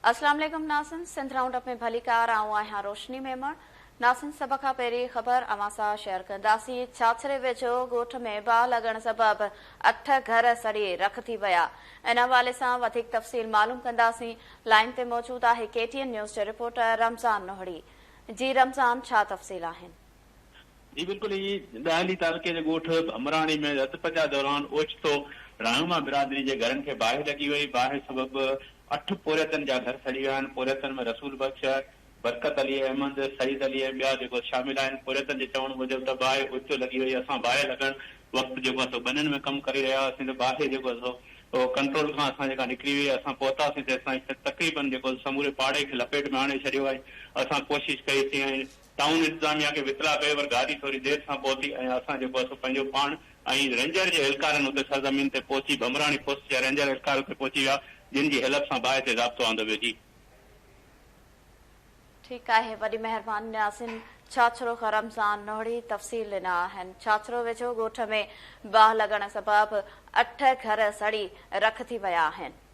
اسلام عليڪم ناظرين سنڌ رائونڊ اپ ۾ ڀليڪار آئون آهيان روشني ميمڻ ناظرين سڀ کان پهرين خبر اوهان سان شيئر ڪنداسين ڇاڇري ويجهو ڳوٺ ۾ باهه لڳڻ سبب اٺ گهر سڙي رک ٿي ويا ان حوالي سان وڌيڪ تفصيل معلوم ڪنداسين لائين تي موجود آهي ڪي ٽي اين نيوز جي رپورٽر رمضان نوهڙي جي رمضان ڇا تفصيل آهن جي بلڪل ائين ئي ڏاهلي تعلقي جي ڳوٺ ڀمراڻي ۾ رت پچاء دوران اوچتو رهنما برادري جي گهرن کي باهه لڳي وئي، باهه سبب اٺ پورهيتن جا گهر سڙي ويا آهن، پورهيتن ۾ رسول بخش، برڪت علي احمد، سعيد علي ۽ ٻيا جيڪو شامل آهن، پورهيتن جي چوڻ موجب ته باهه اوچتو لڳي وئي، اسان باهه لڳڻ وقت جيڪو آهي سو ٻنين ۾ ڪم ڪري رهيا هئاسين ته باهه جيڪو آهي سو ڪنٽرول کان اسان جيڪا نڪري وئي، اسان پهتاسين تيستائين تقريبن جيڪو سموري پاڙي کي لپيٽ ۾ آڻي ڇڏيو ۽ اسان ڪوشش ڪئي سين ۽ ٽائون انتظاميا کي وطلاع ڪيو پر گاڏي ٿوري دير سان پهتي ۽ اسان جيڪو اسو پنهنجو پاڻ ۽ رينجر جي اهلڪارن اتي سرزمين تي پهچي بمبراڻي پوسٽ جا رينجر اهلڪار اتي پهچي ويا جن جي هيلپ سان باهه تي ضابطو آندو ويو جي. ٺيڪ آهي وڏي مهربان نياسين ڇاڇروخ رمضان نوڙي تفصيل ڏنا آهن ڇاڇرو ويجهو ڳوٺ ۾ باهه لڳڻ سبب اٺ گهر سڙي رک ٿي ويا آهن.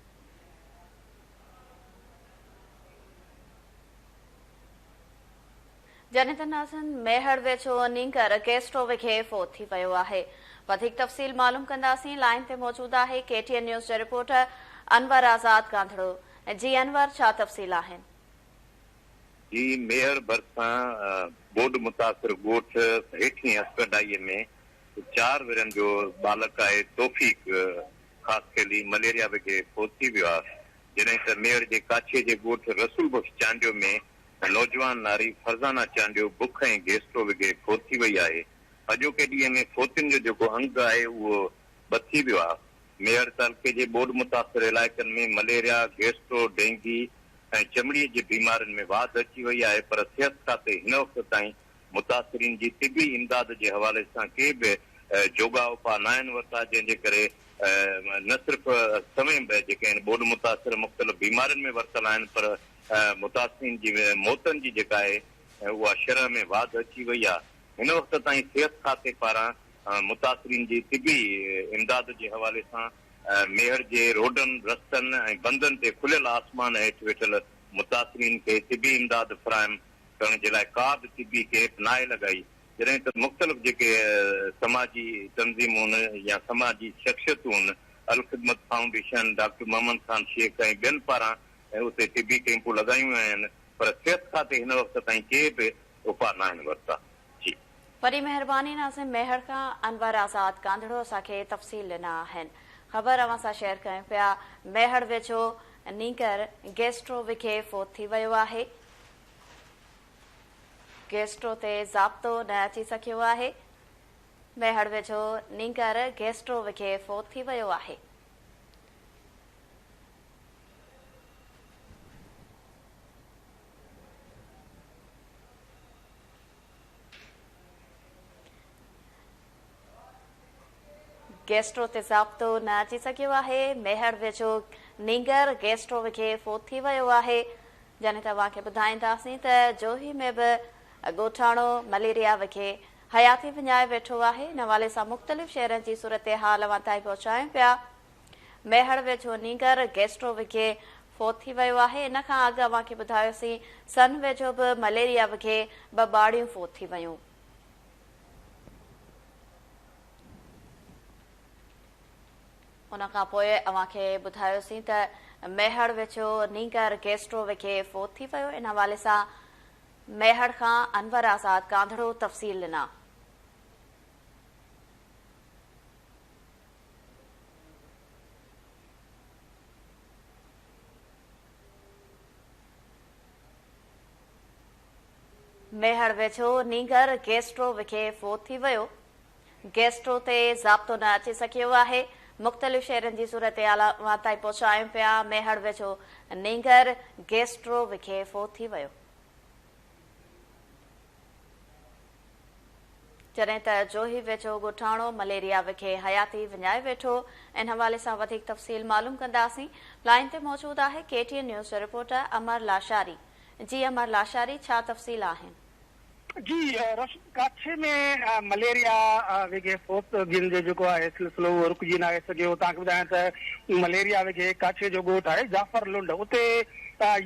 جنھن تي ناظرن ميھڙ ويجھو نينگر گيسٽو وگھي فوت ٿي ويو آھي وڌيڪ تفصيل معلوم ڪنداسين لائين تي موجود آھي ڪي ٽي اين نيوز جو رپورٽر انور آزاد گانڌڙو جي انور ڇا تفصيل آھن. جي ميھڙ ڀرسان ٻوڏ متاثر ڳوٺ ھيٺين ھسڪڊائي ۾ چار ورھين جو ٻالڪ آھي توفيق خاص کيلي مليريا وگهي پهچي ويو آهي، جڏهن ته ميڙ جي ڪاڇي جي ڳوٺ رسول بخش چانڊيو ۾ نوجوان ناري فرزانه چانڊيو بک ۽ گيسٽرو وگهي فوت ٿي وئي آهي، اڄوڪي ڏينهن ۾ فوتين جو جيڪو انگ آهي اهو به ٿي ويو آهي، ميهڙ تعلقي جي ٻوڏ متاثر علائقن ۾ مليريا، گيسٽرو، ڊينگي ۽ چمڙي جي بيمارين ۾ واڌ اچي وئي آهي پر صحت کاتي هن وقت تائين متاثرين جي طبي امداد جي حوالي سان ڪي به جوڳا اپاء ناهن ورتا جنهن جي ڪري نه صرف سوين به جيڪي هن ٻوڏ متاثر مختلف بيمارين ۾ ورتل آهن پر متاثرين جي موتن جي جيڪا آهي اها شرح ۾ واڌ اچي وئي آهي هن وقت تائين صحت کاتي پاران متاثرين جي طبي امداد جي حوالي سان ميهڙ جي روڊن رستن ۽ بندن تي کليل آسمان هيٺ ويٺل متاثرين کي طبي امداد فراهم ڪرڻ جي لاء ڪا به طبي ڪيپ ناهي لڳائي، جڏهن ته مختلف جيڪي سماجي تنظيمون يا سماجي شخصيتون الخدمت فائونڊيشن، ڊاڪٽر محمد خان شيخ ۽ ٻين پاران اتي طبي ڪيمپون لڳايون ويون آهن پر صحت کاتي هن وقت تائين ڪي به اپاء ناهن ورتا. جي. وڏي مهرباني ناظم ميهڙ کان انور آزاد ڪانڌڙو اسان کي تفصيل ڏنا آهن خبر اوهان سان شيئر ڪيون پيا ميهڙ ويجهو نينگر گيسٽرو وگهي فوت ٿي ويو آهي گيسٽرو تي ضابطو نه اچي سگهيو آهي، ميهڙ ويجهو نينگر گيسٽرو وگهي فوت ٿي ويو آهي. گيسٽرو تي ضابطو نه اچي سگهيو آهي، ميهڙ ويجهو نينگر گيسٽرو وگهي فوت ٿي ويو آهي، جڏهن ته اوهان کي ٻڌائينداسين ته جوهي ۾ به ڳوٺاڻو مليريا وگهي حياتي وڃائي ويٺو آهي، ان حوالي سان مختلف شهرن جي صورتحال اوهان تائين پهچايون پيا، ميهڙ ويجهو نينگر گيسٽرو وگهي فوت ٿي ويو آهي، ان کان اڳ اوهان کي ٻڌايوسين سن ويجهو به مليريا وگهي ٻه ٻارڙيون فوت ٿي ويون. ان کان پوء اوهان کي ٻڌايوسين ته ميهڙ ويجهو نينگر گيسٽرو وگهي فوت ٿي ويو، ان حوالي سان ميهڙ کان انور آزاد ڪانڌڙو تفصيل ڏنا. ميهڙ ويجهو نينگر گيسٽرو وکي فوت ٿي ويو، گيسٽرو تي ضابطو نه اچي سگهيو آهي، مختلف شهرين جي صورتحال اوهان تائين پهچايون پيا، ميهڙ ويجهو نينگر گيسٽرو وکي فوت ٿي ويو. جڏهن ته جوهي ويجهو ڳوٺاڻو مليريا وکي حياتي وڃائي ويٺو، ان حوالي سان وڌيڪ تفصيل معلوم ڪنداسين، لائين تي موجود آهي K T N news reporter Amar Lashari, جي امر لاشاري ڇا تفصيل آهن؟ جي روشن ڪاڇي ۾ مليريا وگهي فوت گين جو جيڪو آهي سلسلو اهو رڪجي ناهي سگهيو توهان کي ٻڌايان ته مليريا وگهي ڪاڇي جو ڳوٺ آهي جعفر لنڊ اتي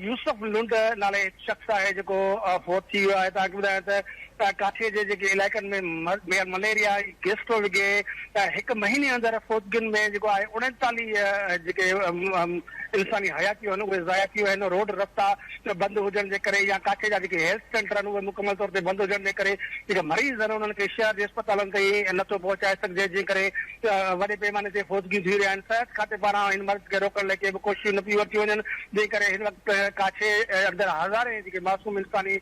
يوسف لنڊ نالي هڪ شخص آهي جيڪو فوت ٿي ويو آهي توهان کي ٻڌايان ته ته ڪاٺيء جي جيڪي علائقن ۾ مليريا ۽ گيسٽرو وگهي ته هڪ مهيني اندر فوتگين ۾ جيڪو آهي اڻيتاليهه جيڪي انساني حياتيون آهن اهي ضايع ٿي ويون آهن روڊ رستا بند هجڻ جي ڪري يا ڪاٺي جا جيڪي هيلٿ سينٽر آهن اهي مڪمل طور تي بند هجڻ جي ڪري جيڪي مريض آهن انهن کي شهر جي اسپتالن تائين نٿو پهچائي سگهجي جنهن ڪري وڏي پيماني تي فوتگيون ٿي رهيا آهن، صحت کاتي پاران هن مرض کي روڪڻ لاء ڪي به ڪوششون نه پيون ورتيون وڃن، جنهن ڪري هن وقت ڪاڇي اندر هزارين جيڪي معصوم انساني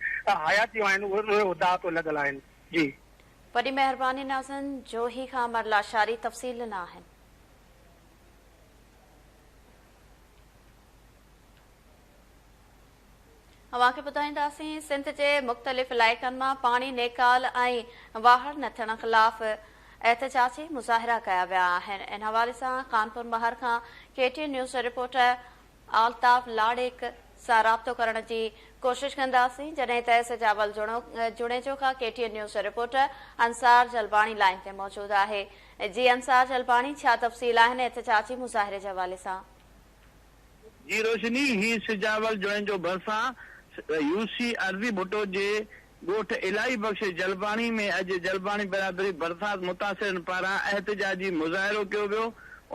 حياتيون آهن اهي داء تي لڳل آهن. جي. وڏي مهرباني ناظرن جوهي کان امر لاشاري تفصيل ڏنا آهن. اوهان کي ٻڌائينداسين سنڌ جي مختلف علائقن مان پاڻي نيڪال ۽ واهڙ نه ٿيڻ خلاف احتجاجي مظاهرا ڪيا ويا آهن ان حوالي سان خانپور مهر کان K T news reporter Altaf Lareek سان رابطو ڪرڻ جي ڪوشش ڪنداسين جڏهن ته سجاول جوڻيجو کان K T news reporter Ansar Jalbani line تي موجود آهي جي انصار جلباڻي ڇا تفصيل آهن احتجاجي مظاهري جي حوالي سان جي روشني هي سجاول جوڻيجو جو ڀرسان يوسي ارضي ڀٽو جي ڳوٺ الاهي بخش جلباڻي ۾ اڄ جلباڻي برادري برسات متاثرن پاران احتجاجي مظاهرو ڪيو ويو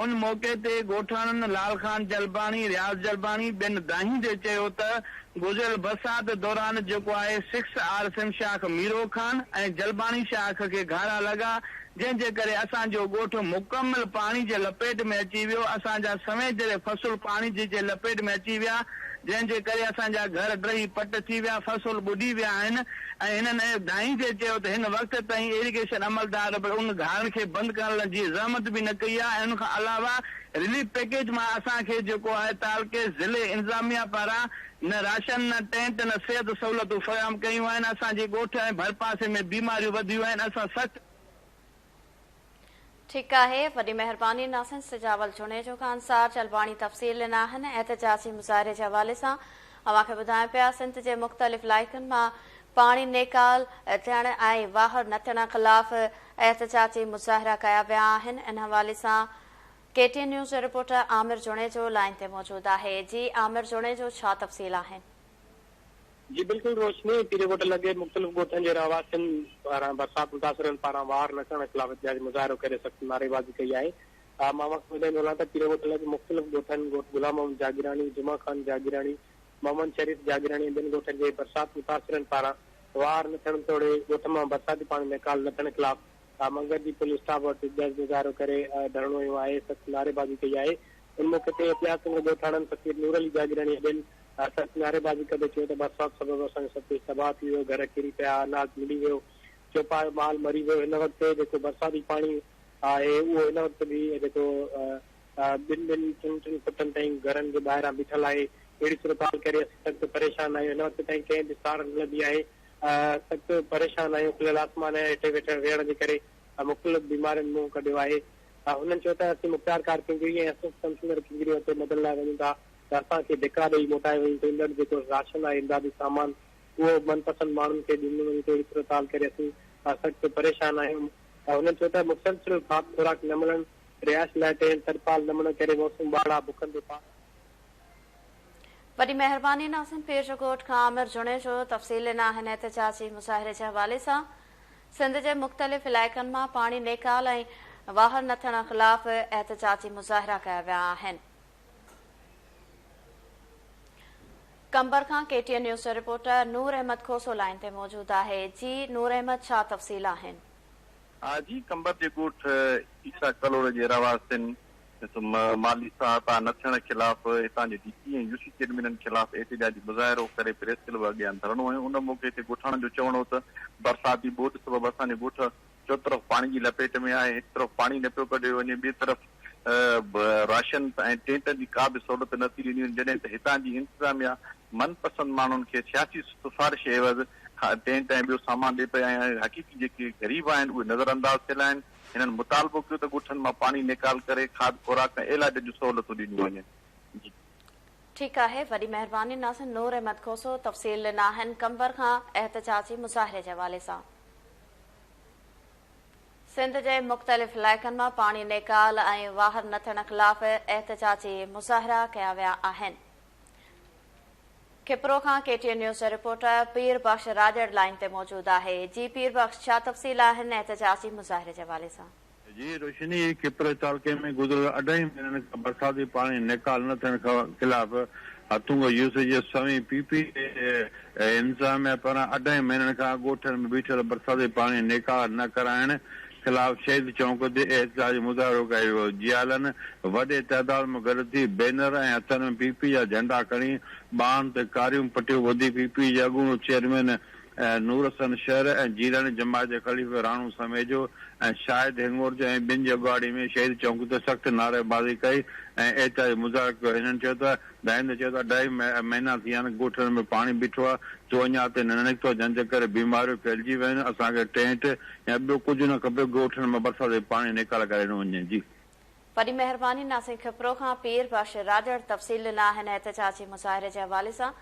ان موقعي تي ڳوٺاڻن لال خان جلباڻي رياض جلباڻي ٻين دانهيندي چيو ته گذريل برسات دوران جيڪو آهي سکس آر سم شاخ ميرو خان ۽ جلباڻي شاخ کي گهارا لڳا جنهن جي ڪري اسان جو ڳوٺ مڪمل پاڻي جي لپيٽ ۾ اچي ويو، اسان جا سوين جهڙي فصل پاڻي جي جي لپيٽ ۾ اچي ويا، جنهن جي ڪري اسان جا گهر ڊهي پٽ ٿي ويا، فصل ٻڏي ويا آهن ۽ هنن اهي ڌائيندي چيو ته هن وقت تائين ايريگيشن عملدار به ان گهارن کي بند ڪرڻ جي زحمت به نه ڪئي آهي ۽ ان کان علاوه رليف پيڪيج مان اسان کي جيڪو آهي تعلقي ضلعي انتظاميا پاران نه راشن نه ٽينٽ نه صحت سهولتون فراهم ڪيون آهن، اسان جي ڳوٺ ۽ ڀرپاسي ۾ بيماريون وڌيون آهن، اسان سخت. ٺيڪ آهي وڏي مهرباني ناصحن سجاول جوڻيجو خان صاحب چلباڻي تفصيل ڏنا آهن احتجاجي مظاهري جي حوالي سان اوهان کي ٻڌايون پيا سنڌ جي مختلف علائقن مان پاڻي نيڪال ٿيڻ ۽ واهر نه ٿيڻ خلاف احتجاجي مظاهرا ڪيا ويا آهن ان حوالي سان ڪي ٽي نيوز جو رپورٽر عامر جوڻيجو لائن تي موجود آهي جي عامر جوڻيجو ڇا تفصيل آهن جي بلڪل روشني پيري ڳوٺ لڳي مختلف ڳوٺن جي رهواسين پاران برسات متاثرن پاران واهر نه ڪرڻ خلاف احتجاجي مظاهرو ڪري سخت نعريبازي ڪئي آهي مان وقت وڌائيندو هلان ته پيري ڳوٺ لڳ مختلف ڳوٺن ڳوٺ غلام محمد جاگيراڻي جمعه خان جاگيراڻي محمد شريف جاگيراڻي ۽ ٻين ڳوٺن جي برسات متاثرن پاران واهر نه ٿيڻ توڙي ڳوٺ مان برساتي پاڻي نيڪال نه ٿيڻ خلاف ها منگهه ڏينهن پوليس اسٽاف وٽ جلد مظاهرو ڪري ڌرڻو هنيو آهي سخت نعريبازي ڪئي آهي ان موقعي تي احتياط سنگهه ڳوٺاڻن فقير نور علي جاگيراڻي ۽ ٻين سخت نعريبازي ڪندي چيو ته برسات سبب اسان جو سڀ ڪجهه تباهه ٿي ويو گهر ڪري پيا اناج ملي ويو چوپايو مال مري ويو هن وقت جيڪو برساتي پاڻي آهي اهو هن وقت به جيڪو ٻن ٻن ٽن ٽن فٽن تائين گهرن جي ٻاهران بيٺل آهي اهڙي صورتحال ڪري اسين سخت پريشان آهيون هن وقت تائين ڪنهن به ساڙ نه لڌي آهي سخت پريشان آهيون، کليل آسمان هيٺ ويٺڻ ويهڻ جي ڪري مختلف بيمارين منهن ڪڍيو آهي، هنن چيو ته اسين مختيار ڪار ڪينگري ۽ اسسٽ ڪمشنر ڪينگري وٽ مدد لاء وڃون ٿا ته اسان کي ڌڪا ڏئي موٽائي وڃي ٿو، ايندڙ جيڪو راشن آهي امدادي سامان اهو من پسند ماڻهن کي ڏنو وڃي ٿو اهڙي صورتحال ڪري اسين سخت پريشان آهيون، هنن چيو ته مسلسل کاڌ خوراڪ نه ملڻ، رهائش لاء ٽينٽ ترپال نه ملڻ ڪري موسم ٻاڙا، بکن تي پاڻ. وڏي مهرباني ناظم پير ڳوٺ کان عامر جوڻيجو تفصيل ڏنا هن احتجاجي مظاهري جي حوالي سان سنڌ جي مختلف علائقن مان پاڻي نيڪال ۽ واهر نه ٿيڻ خلاف احتجاجي مظاهرا ڪيا ويا آهن قمبر کان ڪي ٽي اين نيوز جو رپورٽر نور احمد کوسو لائين تي موجود آهي جي نور احمد ڇا تفصيل آهن. ها جي قمبر جي ڳوٺ عيسيٰ ڪلهوڙي جي رهواسين مالهي سهائتا نه ٿيڻ خلاف هتان جي ڊي سي ۽ يو سي چيئرمينن خلاف احتجاجي مظاهرو ڪري پريس ڪلب اڳيان ڌرڻو هنيو ان موقعي تي ڳوٺاڻن جو چوڻ هو ته برساتي ٻوڏ سبب اسان جو ڳوٺ چوطرف پاڻي جي لپيٽ ۾ آهي هڪ طرف پاڻي نه پيو ڪڍيو وڃي ٻي طرف راشن ۽ ٽينٽن جي ڪا به سهولت نه ٿي ڏني وڃي جڏهن ته هتان جي انتظاميا من پسند ماڻهن کي سياسي سفارش عيوض ٽينٽ ۽ ٻيو سامان ڏئي پئي ۽ حقيقي جيڪي غريب آهن اهي نظر انداز ٿيل آهن. هنن مطالبو ڪيو ته ڳوٺن مان پاڻي نيڪال ڪري کاڌ خوراڪ ۽ عيلاج جون سهولتون ڏنيون وڃن. ٺيڪ آهي وڏي مهرباني ناصر. نور احمد کوسو تفصيل ڏنا آهن قمبر کان احتجاجي مظاهري جي حوالي سان. سنڌ جي مختلف علائقن مان پاڻي نيڪال ۽ واهر نه ٿيڻ خلاف احتجاجي مظاهرا ڪيا ويا آهن. کپرو کان ڪي ٽي اين نيوز جا رپورٽر پير بخش راڄڙ لائين تي موجود آهي جي پير بخش ڇا تفصيل آهن احتجاجي مظاهري جي حوالي سان. جي روشني کپرو تعلقي ۾ گذريل اڍائي مهينن کان برساتي پاڻي نيڪال نه ٿيڻ خلاف هٿونگو يوسف جي سوين پي پي اي انتظاميا پاران اڍائي مهينن کان ڳوٺن ۾ بيٺل برساتي پاڻي نيڪال نه ڪرائڻ خلاف شهيد چونڪ تي احتجاجي مظاهرو ڪيو ويو، جيالن وڏي تعداد ۾ گڏ ٿي بينر ۽ هٿن ۾ پي پي جا جهنڊا کڻي ٻانهن تي ڪاريون پٽيون ٻڌي پي پي جي اڳوڻو چيئرمين نورحسن شهر ۽ جيلاني جماعت جي خليفي راڻو سميجو ۽ شاهد هينگور جو ۽ ٻن جي اڳواڻي ۾ شهيد چونڪ تي سخت نعريبازي ڪئي ۽ احتجاجي مظاهرو ڪيو هنن چيو ته ڏاهندي چيو ته اڍائي مهينا ٿي ويا آهن، ڳوٺن ۾ پاڻي بيٺو آهي، سو اڃا اتي نه نڪتو، جنهن جي ڪري بيماريون ڦهلجي ويون آهن، اسان کي ٽينٽ يا ٻيو ڪجهه نه کپي، ڳوٺن ۾ برسات جي پاڻي نيڪال ڪري ڏنو وڃي جي. وڏي مهرباني ناسين کپرو کان پير بخش راڄڙ تفصيل ڏنا آهن احتجاجي مظاهري جي حوالي سان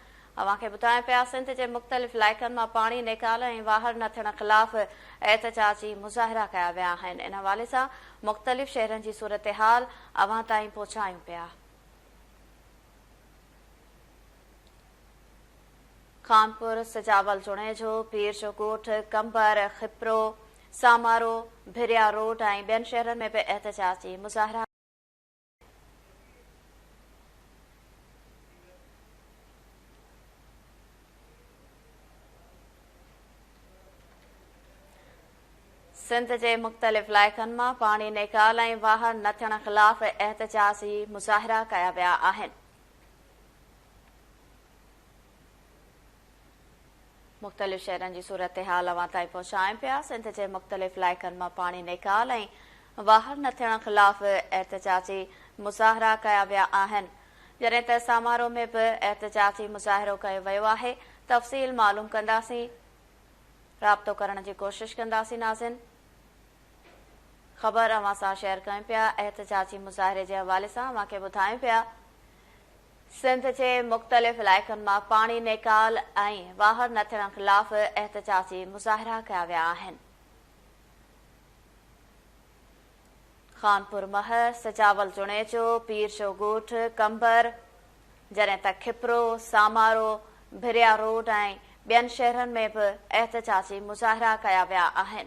اوهان کي ٻڌايون پيا سنڌ جي مختلف علائقن مان پاڻي نيڪال ۽ واهر نه ٿيڻ خلاف احتجاجي مظاهرا ڪيا ويا آهن ان حوالي سان مختلف شهرن جي صورتحال اوهان تائين پهچايون پيا. خانپور، سجاول جوڻيجو، پير جو ڳوٺ، قمبر، خپرو، سامارو، ڀريا روڊ ۽ ٻين شهرن ۾ به احتجاجي مظاهرا. سنڌ جي مختلف علائقن مان پاڻي نيڪال ۽ واهر نه ٿيڻ خلاف احتجاجي مظاهرا ڪيا ويا آهن. مختلف شهرن جي صورتحال اوهان تائين پهچائين پيا، سنڌ جي مختلف علائقن مان پاڻي نيڪال ۽ واهر نه ٿيڻ خلاف احتجاجي مظاهرا ڪيا ويا آهن، جڏهن ته سامارو ۾ به احتجاجي مظاهرو ڪيو ويو آهي، تفصيل معلوم ڪنداسين. رابطو ڪرڻ جي ڪوشش ڪنداسين ناظرين خبر اوهان سان شيئر ڪيون پيا احتجاجي مظاهري جي حوالي سان اوهان کي ٻڌايون پيا سنڌ جي مختلف علائقن مان پاڻي نيڪال ۽ واهر نه ٿيڻ خلاف احتجاجي مظاهرا ڪيا ويا آهن خانپور مهر سجاول جوڻيجو پير جو ڳوٺ قمبر جڏهن ته کپرو، سامارو، ڀريا روڊ ۽ ٻين شهرن ۾ به احتجاجي مظاهرا ڪيا ويا آهن.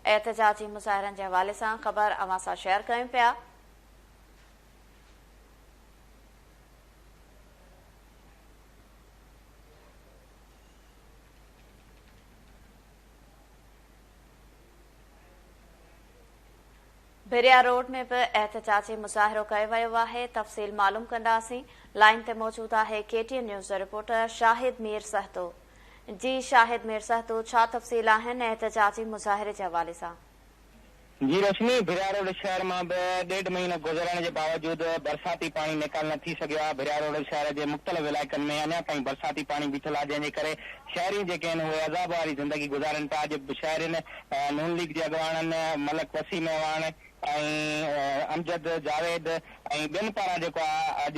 احتجاجي مظاهرن جي حوالي سان خبر اوهان سان شيئر ڪيون پيا. ڀريا روڊ ۾ به احتجاجي مظاهرو ڪيو ويو آهي تفصيل معلوم ڪنداسين لائين تي موجود آهي ڪي ٽي اين نيوز جو رپورٽر شاهد مير سهتو جي شاهد مير سهتو ڇا تفصيل آهن احتجاجي مظاهري جي حوالي سان جي رشمي ڀرياروڊ شهر مان به ڏيڍ مهينو گذرڻ جي باوجود برساتي پاڻي نيڪال نه ٿي سگهيو آهي ڀرياروڊ شهر جي مختلف علائقن ۾ اڃا تائين برساتي پاڻي بيٺل آهي جنهن جي ڪري شهرين جيڪي آهن اهي عذاب واري زندگي گذارين پيا اڄ شهرين نون ليگ جي اڳواڻن ملڪ وسيم اعواڻ ۽ امجد جاويد ۽ ٻين پاران جيڪو آء اڄ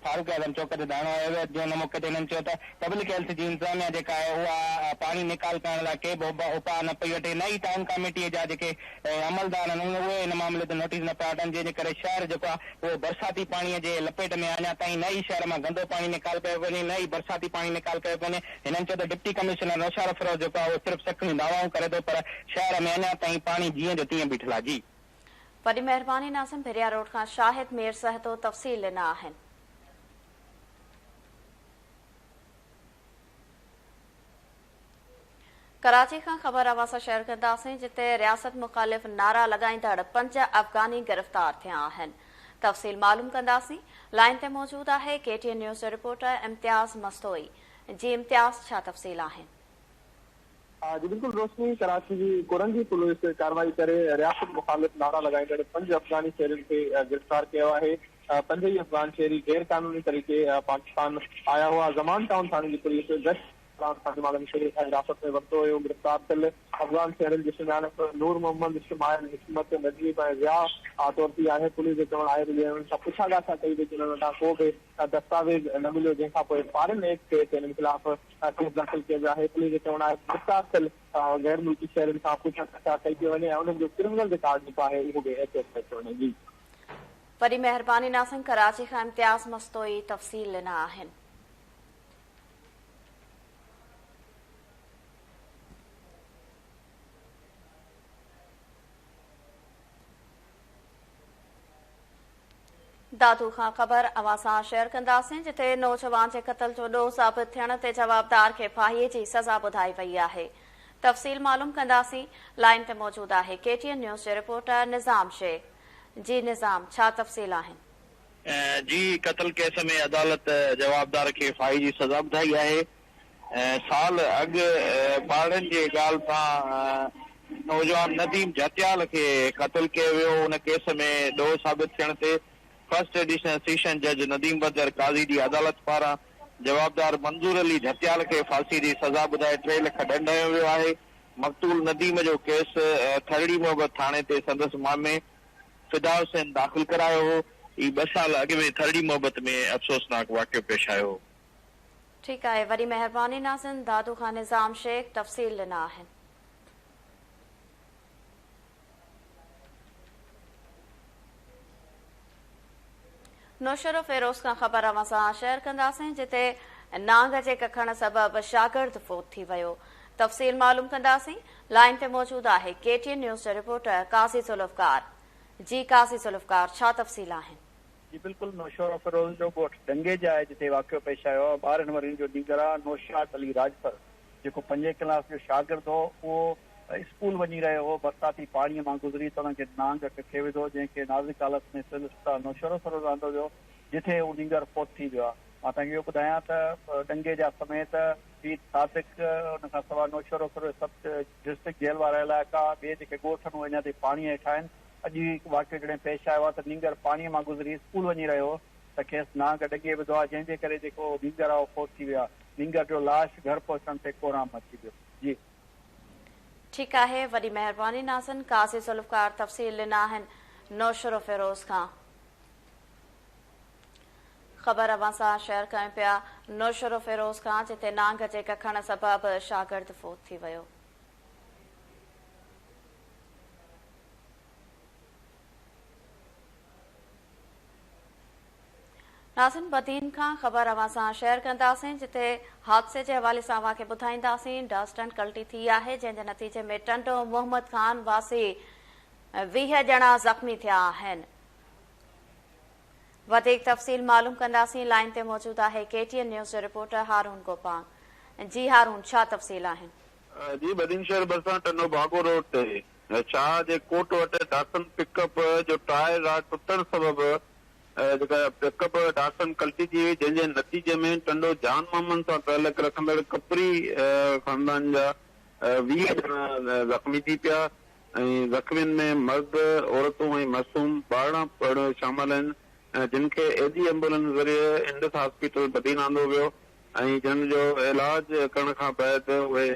فاروق اعظم چوڪ تي ڌرڻو هنيو ويو جنهن موقعي تي هنن چيو ته پبلڪ هيلٿ جي انتظاميا جيڪا آهي اها پاڻي نيڪال ڪرڻ لاء ڪي به اپاء نه پئي وٺي نه ئي ٽائون ڪاميٽي جا جيڪي عملدار آهن اهي ان معاملي تي نوٽيس نه پيا وٺن جنهن جي ڪري شهر جيڪو آهي اهو برساتي پاڻي جي لپيٽ ۾ آهي اڃا تائين نه ئي شهر مان گندو پاڻي نيڪال ڪيو پيو وڃي نه ئي برساتي پاڻي نيڪال ڪيو پيو وڃي هنن چيو ته ڊپٽي ڪمشنر نوشهرافروز جيڪو آهي اهو صرف سکڻيون دعوائون ڪري ٿو پر شهر ۾ اڃا تائين پاڻي جيئن جو تيئن بيٺل آهي جي وڏي مهرباني ناظم ڀريا روڊ کان شاهد مير سهتو تفصيل ڏنا آهن. ڪراچي کان خبر اواسا شيئر ڪنداسين جتي رياست مخالف نعرا لڳائيندڙ پنج افغاني گرفتار ٿيا آهن تفصيل معلوم ڪنداسين لائين تي موجود آهي ڪي ٽي اين نيوز جو رپورٽر امتياز مستوئي جي امتياز ڇا تفصيل آهن ها جي بلڪل روشني ڪراچي جي ڪورنگي پوليس ڪارروائي ڪري رياست مخالف نعرا لڳائيندڙ پنج افغاني شهرين کي گرفتار ڪيو آهي پنج ئي افغان شهري غير قانوني طريقي پاڪستان آيا هئا زمان ٽائون ٿاڻي جي پوليس گشت دوران ٿاڻي وارن کي حراست ۾ ورتو هيو گرفتار ٿيل افغان شهرين جي سڃاڻپ نور محمد شمائل حڪمت نجيب ۽ ضياء طور ٿي آهي پوليس جو چوڻ آهي ته جي انهن سان پڇا ڳاڇا ڪئي وئي ته انهن وٽان ڪو به دستاويز نه مليو جنهن کان پوء فارن ايڊ ڪيس انهن خلاف ڪيس داخل ڪيو ويو آهي پوليس جو چوڻ آهي ته گرفتار ٿيل غير ملڪي شهرين کان پڇا ڳاڇا ڪئي پئي وڃي ۽ انهن جو ڪرمنل رڪارڊ جيڪو آهي اهو به ايڪسيس ڪيو پيو وڃي جي. وڏي مهرباني ناظم ڪراچي کان امتياز مستوئي تفصيل ڏنا آهن. دادو کان خبر اوهان سان شيئر ڪنداسين جتي نوجوان جي قتل جو ڏوهه ثابت ٿيڻ تي جوابدار کي ڦاهي جي سزا ٻڌائي وئي آهي تفصيل معلوم ڪنداسين لائين تي موجود آهي ڪي ٽي اين نيوز جي رپورٽر نظام شيخ جي نظام ڇا تفصيل آهن. جي قتل ڪيس ۾ عدالت جوابدار کي ڦاهي جي سزا ٻڌائي آهي. سال اڳ ٻارڙن جي ڳالهه سان نوجوان نديم جهتيال کي قتل ڪيو ويو، ان ڪيس ۾ ڏوهه ثابت ٿيڻ تي فرسٽ ايڊيشنل سيشن جج نديم بدر قاضي جي عدالت پاران جوابدار منظور علي جهتيال کي ڦاسي جي سزا ٻڌائي ٽي لک ڏنڊ هنيو ويو آهي. مقتول نديم جو ڪيس ٿرڙي محبت ٿاڻي تي سندس مامي فدا حسين داخل ڪرايو هو. ٻه سال اڳ ۾ ٿرڙي محبت ۾ افسوسناڪ واقعو پيش آيو هو. ٺيڪ آهي وڏي مهرباني ناظرين دادو خان نظام شيخ تفصيل ڏنا آهن. نوشهرو فيروز کان خبر اوهان سان شيئر ڪنداسين جتي نانگ جي ڪکڻ سبب شاگرد فوت ٿي ويو تفصيل معلوم ڪنداسين لائين تي موجود آهي ڪي ٽي اين نيوز جا رپورٽر قاضي ذوالفقار جي قاضي ذوالفقار ڇا تفصيل آهن جي بلڪل نوشهروفيروز جو ڳوٺ ڊنگي جي آهي جتي واقعو پيش آيو آهي ٻارهن ورهين جو نينگرا نوشاد علي راڄپر جيڪو پنجين ڪلاس جو شاگرد هو اهو اسڪول وڃي رهيو هو برساتي پاڻي مان گذري ته ان کي نانگ اک کي وڌو جنهن کي نازڪ حالت ۾ سول اسپتال نوشهروفيروز آندو ويو جتي هو نينگر فوت ٿي ويو آهي مان توهان کي اهو ٻڌايان ته ڏنگي جا سميت پير صادق ان کان سواء نوشهروفيروز سڀ ڊسٽرڪٽ جيل وارا علائقا، ٻئي جيڪي ڳوٺ آهن اهي اڃا تائين پاڻيء هيٺ آهن. اڄ ئي هڪ واقعو جڏهن پيش آيو آهي ته نينگر پاڻيء مان گذري اسڪول وڃي رهيو هو ته کيس نانگ ڊڄي وڌو آهي جنهن جي ڪري جيڪو نينگر آهي اهو فوت ٿي ويو آهي. نينگر جو لاش گهر پهچڻ تي ڪورام مچي ويو. جي. ٺيڪ آهي وڏي مهرباني ناظن قاضي ذوالفقار تفصيل ڏنا آهن نوشھروفيروز کان. خبر اوهان سان شيئر ڪيون پيا نوشهروفيروز کان جتي نانگ جي ڪکڻ سبب شاگرد فوت ٿي ويو. ناظرين بدين کان خبر اوهان سان شيئر ڪنداسين جتي حادثي جي حوالي سان اوهان کي ٻڌائينداسين ڊسٽ ٽنڊ ڪلٽي ٿي آهي جنهن جي نتيجي ۾ ٽنڊو محمد خان واسي ويهه ڄڻا زخمي ٿيا آهن. وڌيڪ تفصيل معلوم ڪنداسين لائين تي موجود آهي ڪي ٽي اين نيوز جو رپورٽر هارون گوپانگ جي هارون ڇا تفصيل آهن. جي بدين شهر ڀرسان ٽنڊو باگو روڊ تي شاهه جي ڪوٽ وٽ ڊاٽسن پڪ اپ جو ٽائر راڊ ٽٽڻ سبب جيڪا پڪ اپ ڊاٽسن ڪلٽي ٿي وئي جنهن جي نتيجي ۾ ٽنڊو جان محمد سان تعلق رکندڙ ڪپري خاندان جا ويهه ڄڻا زخمي ٿي پيا. ۽ زخمين ۾ مرد، عورتون ۽ معصوم ٻارڙا پڻ شامل آهن جن کي ايڌي ايمبولنس ذريعي انڊس هاسپيٽل بدين آندو ويو ۽ جن جو علاج ڪرڻ کان بعد اهي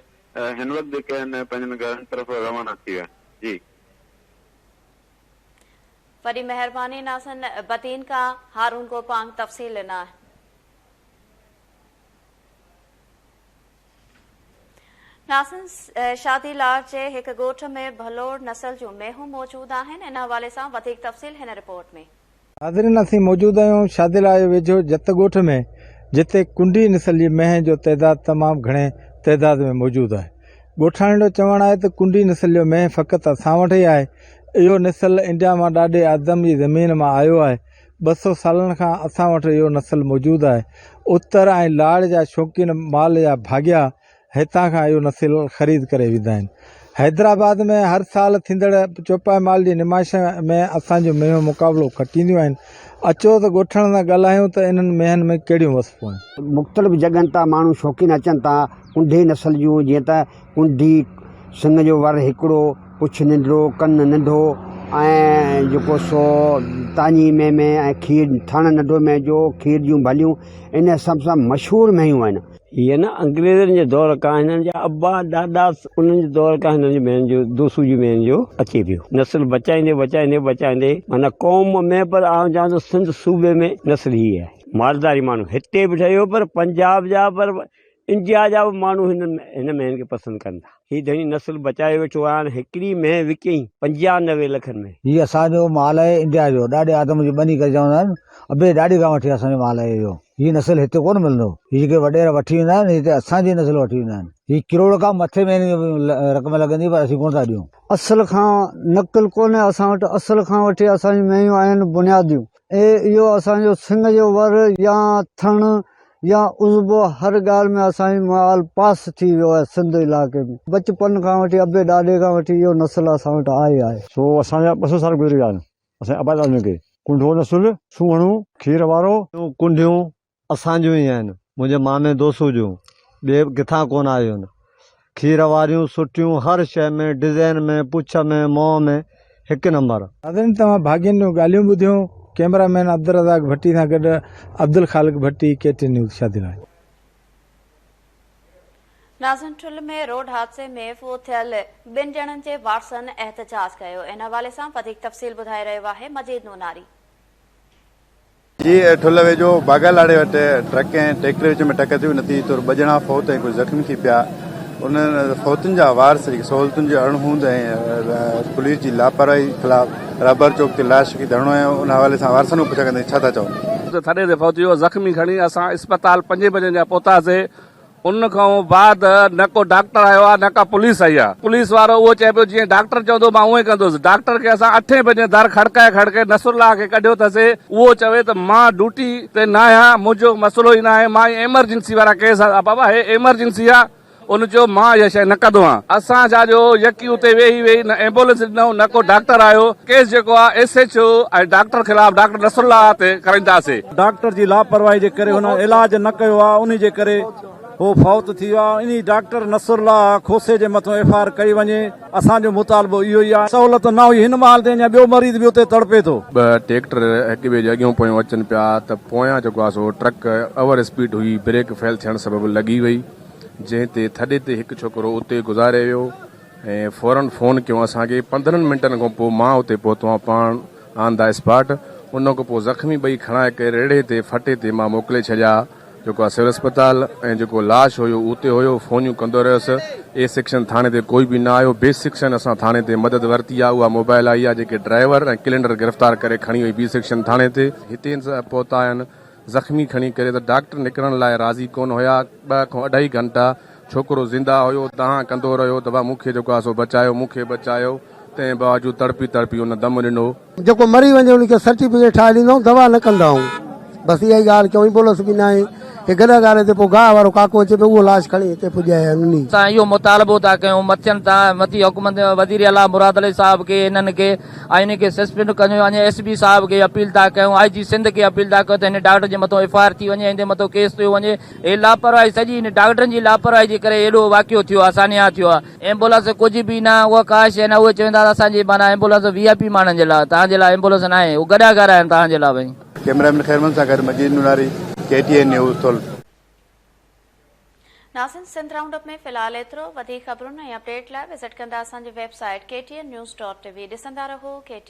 هن وقت جيڪي آهن پنهنجن گهرن طرف روانا ٿي ويا آهن. وڏي مهرباني ناظرن بدين کان هارون گوپانگ تفصيل ڏنا آهن. ناصر شادي لاڙ جي هڪ ڳوٺ ۾ ڀلوڙ نسل جون مينهون موجود آهن، ان حوالي سان وڌيڪ تفصيل هن رپورٽ ۾. ناظرين اسين موجود آهيون شادي لاڙ جي ويجهو جت ڳوٺ ۾ جتي ڪنڊي نسل جي مينهن جو تعداد تمام گهڻي تعداد ۾ موجود آهي ڳوٺاڻين جو چوڻ آهي ته ڪنڊي نسل جو مينهن فقط اسان وٽ ئي آهي اهو نسل انڊيا مان ڏاڏي آدم جي زمين مان آيو آهي ٻه سؤ سالن کان اسان وٽ اهو نسل موجود آهي. اتر ۽ لاڙ جا شوقين مال جا ڀاڳيا هتان کان اهو نسل خريد ڪري ويندا آهن. حيدرآباد ۾ هر سال ٿيندڙ چوپائي مال جي نمائش ۾ اسان جون مينهون مقابلو کٽينديون آهن. اچو ته ڳوٺڻن سان ڳالهايون ته انهن مينهن ۾ ڪهڙيون وصفون آهن. مختلف جڳهن تان ماڻهو شوقين اچن ٿا ڪنڍي نسل جون جيئن ته. ڪنڍي، سڱ جو ور هڪڙو، پڇ ننڍڙو، ڪن ننڍو ۽ جيڪو سو تاڃي مين مين ۽ کير ٿڻ ننڍو مين جو کير جون ڀليون ان حساب سان مشهور مينهيون آهن. هي نه انگريزن جي دور کان هنن جا ابا ڏاڏا انهن جي دور کان هنن جي مين جو دوسو جي مين جو اچي پيو نسل بچائيندي بچائيندي بچائيندي معنيٰ قوم ۾ پر آئون چوان ٿو سنڌ صوبي ۾ نسل هي آهي مالداري ماڻهو هتي به ٺهيو پر پنجاب جا پر انڊيا جا به ماڻهو هن هن مينهن کي پسند ڪن ٿا. هي ڌڻي نسل بچايو ويٺو آهي هاڻ هڪڙي مينهن وڪئين پنجاهه نوي لکن ۾. هي اسان جو مال آهي انڊيا جو ڏاڏي آدم جي ٻني ڪري چوندا آهن ابي ڏاڏي کان وٺي اسان جو مال آهي اهو هي نسل هتي ڪونه ملندو هي جيڪي وڏيرا وٺي ويندا آهن هي ته اسان جي نسل وٺي ويندا آهن هي ڪروڙ کان مٿي مينهن جي رقم لڳندي پر اسين ڪونه ٿا ڏيون. اصل کان نقل ڪونهي اسان وٽ اصل کان وٺي اسان جون مينهيون آهن بنياديون. اي اهو اسان جو سنڱ جو ور يا ٿڻ يا عضبو هر ڳالهه ۾ اسان جي مال پاس ٿي ويو آهي سنڌ علائقي ۾ بچپن کان وٺي ابي ڏاڏي کان وٺي اهو نسل اسان وٽ آئي آهي. سو اسان جا ٻه سؤ سال گذري ويا آهن اسان جي ابا ڏاڏن کي ڪنڍو نسل سونهڻو کير وارو. ڪنڍيون اسان جون ئي آهن، منهنجي مامي دوسو جون، ٻيئي به ڪٿان ڪونه آيون. کير واريون، سٺيون، هر شيء ۾، ڊزائين ۾، پڇ ۾، منهن ۾، هڪ نمبر. ناظرين توهان ڀاڳين جون ڳالهيون ٻڌيون، ڪيمرا مين عبدالرزاق ڀٽي سان گڏ عبدالخالق ڀٽي ڪي ٽي نيوز شادي لاڙ. ناظرين ٺل ۾ روڊ حادثي ۾ فوت ٿيل ٻن ڄڻن جي وارثن احتجاج ڪيو ان حوالي سان وڌيڪ تفصيل ٻڌائي رهيو آهي مجيد نوناري. جي ٺل ويجهو باگا لاڙي وٽ ٽرڪ ۽ ٽريڪٽر وچ ۾ ٽڪر ٿي، نتيجي طور ٻه ڄڻا فوت ۽ ڪجهه زخمي ٿي پيا، انهن فوتن جا وارث جيڪي سهولتن جي اڻ هوند ۽ پوليس جي لاپرواهي خلاف رهبر چوڪ تي لاش رکي ڌرڻو هنيو، ان حوالي سان وارثن کان پڇا ڪندي ڇا ٿا چئو؟ ٿڏي تي فوت ٿي ويو، زخمي کڻي اسان اسپتال پنجين بجن جا پهتاسين، ان کان بعد نه ڪو ڊاڪٽر آيو آهي نه ڪا پوليس آئي آهي. پوليس وارو اهو چئي پيو جيئن ڊاڪٽر چوندو مان اهو ئي ڪندس. ڊاڪٽر کي اسان اٺين بجي در کڙڪائي کڙڪي نصرالله کي ڪڍيو ٿسي اهو چوي ته مان ڊوٽي تي ناهيان منهنجو مسئلو ئي ناهي مان اهي ايمرجنسي وارا ڪيس آ بابا هي ايمرجنسي آ ان چيو مان اها شئي نه ڪندو آهيان. اسان جا جو يڪي اتي ويهي ويهي نه ايمبولينس ڏنو نه ڪو ڊاڪٽر آيو ڪيس جيڪو آ ايس ايڇ او ۽ ڊاڪٽر خلاف ڊاڪٽر نصرالله تي ڪرائينداسي. ڊاڪٽر جي لاپرواهي جي ڪري هن علاج نه ڪيو آهي انهي جي ڪري هو فوت ٿي ويو آهي انهي ڊاڪٽر نصرالله کوسي جي مٿو ايف آء آر ڪئي وڃي اسان جو مطالبو اهو ئي آهي سهولت نه هئي هن مهال تي اڃان ٻيو مريض به اتي تڙپي ٿو. ٻه ٽيڪٽر هڪ ٻئي جي اڳيون پويون اچن پيا ته پويان جيڪو آهي سو ٽرڪ اوور اسپيڊ هئي بريڪ فيل ٿيڻ سبب لڳي وئي جنهن تي ٿڏي تي هڪ ڇوڪرو اتي گذاري ويو ۽ فورن فون ڪيو اسان کي پندرهن منٽن کان پوء مان اتي پهتو آهيان پاڻ آن دا اسپاٽ، ان کان پوء زخمي ٻئي کڻائي ڪري ريڙهي تي ڦٽي تي مان موڪلي ڇڏيا، جيڪو آ سول اسپتال ۽ جيڪو لاش هيو اهو اتي هيو، فونيون ڪندو رهيس، اي سيڪشن ٿاڻي تي ڪوئي به نه آيو، بي سيڪشن اسان ٿاڻي تي مدد ورتي آ، اها موبائل آئي آ، جيڪي ڊرائيور ۽ ڪلينڊر گرفتار ڪري کڻي وئي بي سيڪشن ٿاڻي تي. هتي پهتا آهن، زخمي کڻي ڪري ته ڊاڪٽر نڪرڻ لاء راضي ڪونه هيا، ٻه کان اڍائي گهنٽا ڇوڪرو زنده هيو، دانهن ڪندو رهيو ته وا مون کي جيڪو آهي سو بچايو، مون کي بچايو، تنهن باوجود تڙپي تڙپي ان دم ڏنو. جيڪو مري وڃي ان کي سرٽيفڪيٽ ٺاهي ڏيندائون، دوا نه ڪندائون، بس اها ئي ڳالهه ڪيائون، ايمبولنس به ناهي، هي گڏهه گاري تي پوء گاهه وارو ڪاڪو اچي پيو، اهو لاش کڻي هتي پڄايائين، انهي. سان اهو مطالبو ٿا ڪيون، مٿين تان مٿي حڪم وزيراعليٰ مراد علي صاحب کي انهن کي. آئيني کي سسپينڊ ڪندي اڃ ايس پي صاحب کي اپيل ٿا ڪيون آئي جي سنڌ کي اپيل ٿا ڪيون ته هن ڊاڪٽر جي مٿو ايف آء آر ٿي وڃي هندي مٿو ڪيس ٿيو وڃي هي لاپرواهي سڄي هن ڊاڪٽرن جي لاپرواهي جي ڪري اهڙو واقعو ٿيو آهي سانحه ٿيو آهي. ايمبولنس ڪجهه به نه اها ڪا شيء ناهي اهي چون ٿا ته اسان جي معنيٰ ايمبولنس وي آء پي ماڻهن جي لاء توهان جي لاء ايمبولنس ناهي اهي گڏا گهر آهن توهان جي لاء ڀئي. ڪيمرا مين خيرمن سان گڏ Majeed Norari, K T N news, Thul. ناظرين سنڌ رائونڊ اپ ۾ في الحال ايترو، وڌيڪ خبرن ۽ اپڊيٽ لاء وزٽ ڪندا اسان جي website K T N news dot T V ڏسندا رهو، ڪي ٽي.